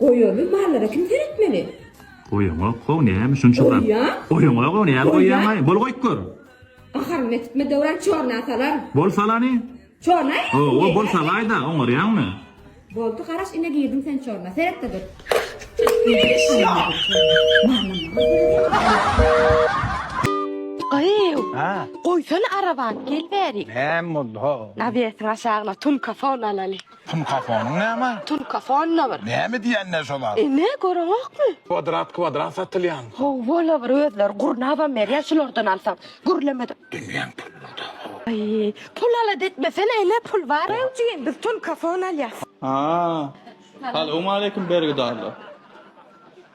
Goýaly mallara kim seretmeli? Goýaňok how näme şunça zat. Goýýan. Goýaňok how näme goýýaňaý. Bol goýup gör. Aharyny etme Döwran çorna salar. Bol salany. Çorna etsin. Hawa bol salaýda oňarýaňmy. Boldy garaş ine girdiň sen çorna. Seretde dur. Gyýw. Ha. Goýsana arabany gel bäri. Näme boldy ho? Nabetin aşagyna tunka fon alaly. Tunkafonyň näme? Tunkafon la bir. Näme diýenler şolar? Ene, göreňokmy? Kwadrat kwadrat satylýan. Hawa la bir özleri gurnabam berýär şulardan alsaň. Gürlemede. Dünýäň pulunyda haw. Aý, pul alat etmesene ene, pul bar. Ýok jigim, biz tunkafon alýas. Haa. Salowmaleýkim bergidarlar.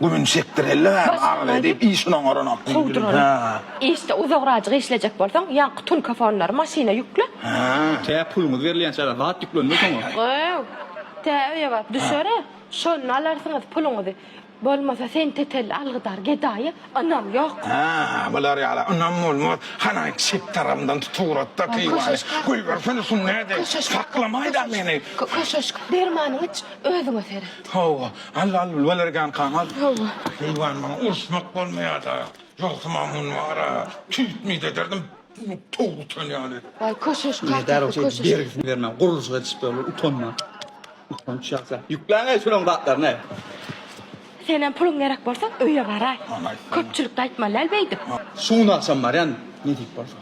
Gümüni çekdireli gari arz edip işin oňaranok diýdi biri. Ha. Işde uzagrajyk işlejek bolsaň ýaňky tulkafonlary maşyna ýükle. Ha. Tä puluňyz berilýänçä zat ýüklenmez oňa. Göw. Tä öýe baryp düşer-ä. Şonda alarsyňyz puluňyzy. Bolmasa sen tetelli algydar gedaýa ynam ýok. Ha, bular ýala ynam bolmaz. Hanaý çep tarabymdan tutugrat-da keýwany. Goýbersene şuny nädip. Saklamaý-da meni. Köşeşk, dermanyňy iç, özüňe seret. Hawa, Alla al bolarkan Kamal. Hawa. Heýwan maňa uruşmak bolmaýada. Ýogsa maňa muny wara, tüýtmit ederdim, towuk utan ýaly. Waý köşeş kakasy köşeş. Nädäl bolsa bergisini bermän gurluşyk edişip ýör bu utanma. Utanç ýasa. Ýükläň-aý şulaň zatlaryny. Senem puluň gerek bolsa öýe baraý. Köpçülikde aýtmaly däl beýdip. Şugun agşam barýan ne diýip bolsa.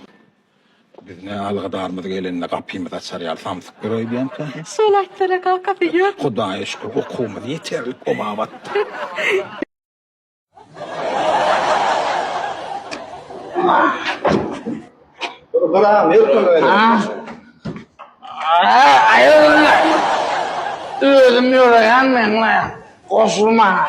Biz ne algadarmyz gelende gapymyz açar ýaly samsyk bir oý bilenkä. Şol aýtsana kaka sen ýör. Hudaýa şükür okuwymyz ýeterlik boba batdy. Özüm ýöreýän meňle goşul maňa.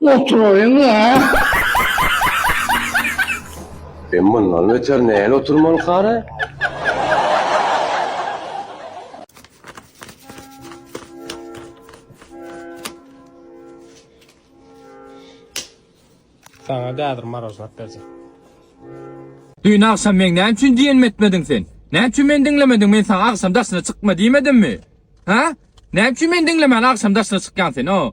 Oturaýyň-a. Sen mundan beter näle oturmalyka-da? Saňa gäzir marožnat berjek. Düýn agşam meň näme üçin diýenimi etmediň sen? Näme üçin meni diňlemediň? Men saňa agşam daşyna çykma diýmedimmi? Hä? Näme üçin meni diňlemän agşam daşyna çykýaň sen? O,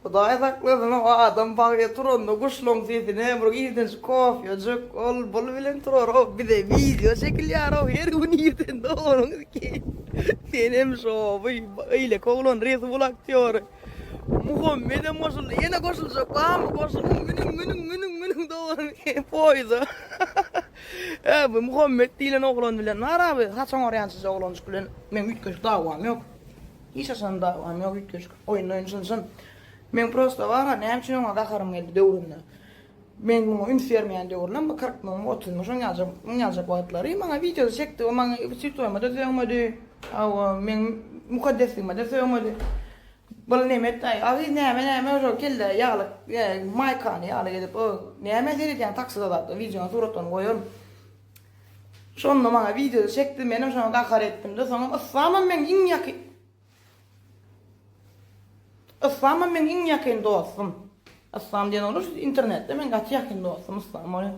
Hudaý saklasyn, o adam bagtly turanda guşlaryň sesini hem bir ilkinji kofýajyk, ol-bul bilen turar-ow. Bize wideo çekilýär-ow, her gün irden doganyň iki. Sen hem şowy, beýleki oglan Red Bull aktýory Muhammet hem goşuldy. Ýene goşuljak barmy? Goşulyň, münüň, münüň, münüň, münüň doganyň poýuza. Hä, bu Muhammet diýlen oglan bilen bar abi, haçan barýan siz oglanjyk bilen? Meň üýtgeşik dawam ýok. Hiç haçan dawam ýok üýtgeşik. Oýun oýun jyn-jyn. Men prosta bara näme üçin oňa gaharym geldi döwründe. Men muňa üns bermeýän döwrüne bu kyrkmyň, otuzmyň şoň ýaljak, muň ýaljak wagtlary maňa wideoda çekdi, o maňa üstütoýuma-da sögmedi, hawa, meň mukaddesligime-de sögmedi. Bul näme etdi-aý, Aziz näme, näme ýa-da kelle ýagly, ýa maýkany ýaly gezip, o näme seredýäň taksida zatda, wideonyň suratlaryny goýaryn. Şonda maňa wideoda çekdi, menem şoňa gahar etdim-de, soňam yslamam meň iň ýaky. Yslamam meň iň ýakyn dostum. Yslam diýen oglan şu internetde meň gaty ýakyn dostum Yslam ol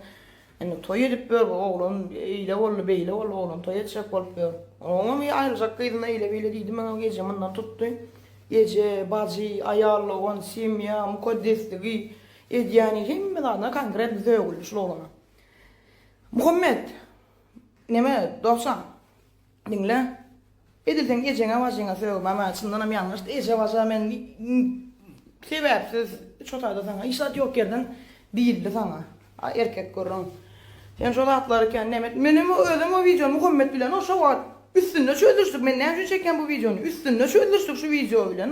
indi toý edip ýör bu oglan eýle boldy beýle boldy oglan toý etjek bolup ýör oňam aýryljak gyzyna eýle beýle diýdi meň eje mundan tutdy eje bajy aýallogan semýa mukaddesligi edýäni hemme zadyna konkretno sögüldi şul oglana Muhammet neme dogsan Diňle. Edil seň ejeňe bajyňa sögüm ama çyndanam ýalňyşdy eje baja men sebäpsiz üç otagda saňa hiç zat ýok ýerden diýildi saňa a erkek gürrüň sen şo zatlary kän näme et menem o özem o wideony Muhammet bilen o şo wagt üstünde çözüşdik men näme üçin çekýän bu wideony üstünde çözüşdik şu wideo bilen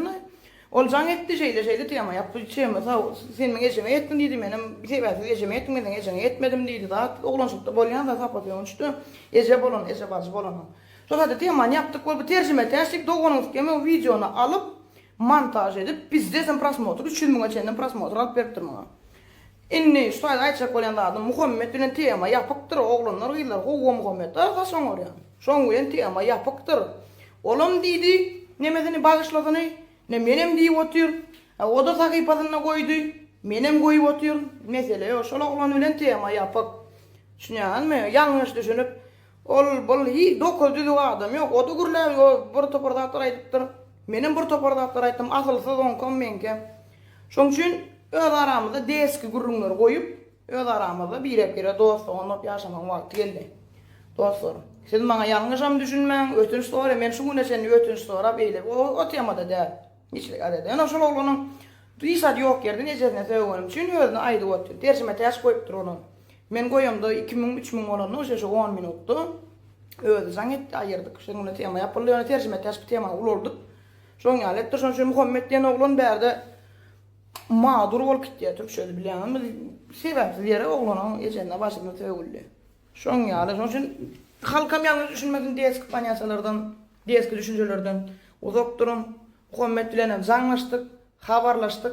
Ol jaň etdi, şeýle-şeýle tema ýap, bu tema sag, sen meň ejeňe ýetdiň diýdi, menem sebäpsiz ejem ýetdim, men seň ejeňe ýetmedim diýdi, zat oglançylykda bolýan zat hapat öwünçde, eje bolan, eje bajy bolan. Şo sady temany ýapdyk, bol bu terjimetäç diýip doganyň skem o wideony alyp montaž edip, bizde sen prosmotr üç ýüz müňe çenli prosmotr alyp beripdir muňa. Indi şu taýda aýtjak bolýan zadym, Muhammet bilen tema ýapykdyr, oglanlar, gyzlar, howwa Muhammet arkaç oňarýan. Şoň bilen tema ýapykdyr. Olam diýdi, nemesini bagyşlasyny, ine menem diýip otyr, a oda sahypasynda goýdy, menem goýup otyryn, mesele ýok, şol oglan bilen tema ýapyk. Düşünýäňizmi? Ýalňyş düşünip, Ol, bul, hi, dokuz düzüw adam ýok, o-da gürläp ýo, bir topar zatlar aýdypdyr. Menem bir topar zatlar aýtdym, asylsyz oňkam, meňkem. Şoň üçin öz aramyzda deski gürrüňleri goýup, öz aramyzda birek-birege dost-dogan bolup ýaşamagyň wagty geldi. Dostlarym, siz maňa ýalňyşam düşünmäň, ötünç soraýan, men şu güne çenli ötünç sorap eýlep o, o temada däl. Hiçlik ade-de. Ýöne şol oglanyň, duýsady ýok ýerden ejesine sögünim üçin özüne aýdyp otdy. Terjime täç goýupdyr olam. Men goýamda iki müň, üç müň bolanda goşa şu on minutda özi jaň etdi, aýyrdyk. Şonuň bilen tema ýapyldy. Ýöne terjime täşki temany ulaldyk. Şoň ýaly etdi. Şonuň üçin Muhammet diýen oglan bärde madur bolup gitýär. Türkçesi bilýäňizmi? Biz sebäpsiz ýere oglanyň ejesine başymyz sögüldi. Şoň ýaly. Şonuň üçin halkam ýalňyş düşünmesin, deski panýasalardan, deski düşünjelerden uzak duruň. Muhammet bilenem jaňlaşdyk, habarlaşdyk.